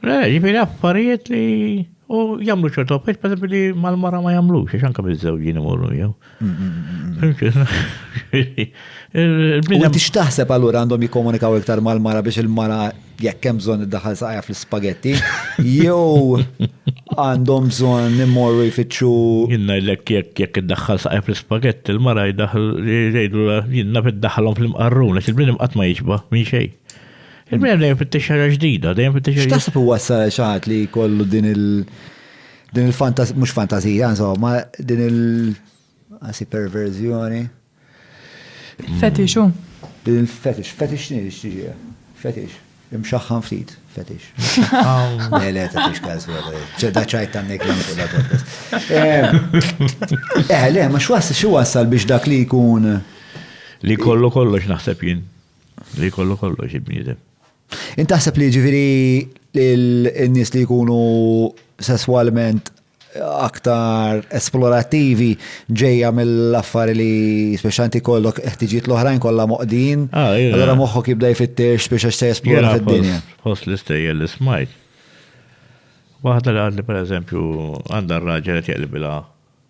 Eh, ġifiri affarijiet li u jamlu ċertu affarijiet, per esempio, li mal-mara ma jamlu, xiex anka mizzewġin imorru jew. U tix taħseb għallur għandhom jikomunikaw iktar mal-mara biex il-mara jekk hemm bżonn id-daħal saqja fl-spagetti, jew għandhom bżonn immorru jfittxu. Jinna jlek jekk jekk id-daħal saqja fl-spagetti, il-mara jdaħal jgħidu jinna fid-daħalhom fl-imqarrun, għax il-bniedem qatt ma jiġba minn xejn. Il-bnedem dejjem fittex ħaġa ġdida, dejjem fittex ħaġa. X'taħseb huwa xi ħadd li jkollu din il- din il-fantazija, mhux fantazija, insomma, din il- għasi perverżjoni. Fetixu. Din il-fetix, fetix nix tiġi, fetix. Imxaħħan ftit, fetix. Le, le, ta' fix każ, ċedda ċajt ta' nek eh, eh, le, ma xwas xi wassal biex dak li jkun. Li kollu kollox naħseb jien. Li kollu kollox il-bniedem. Int taħseb li ġifieri n-nies li jkunu sesswalment aktar esplorattivi ġejja mill-affari li speċanti kollok ħtiġiet l-oħrajn kollha moqdin. Ah, allora moħħok jibda jfittex biex għax se esplora fid-dinja. Fost l-istejjel li smajt. Waħda li għandi pereżempju għandha r-raġel qed jaqlibilha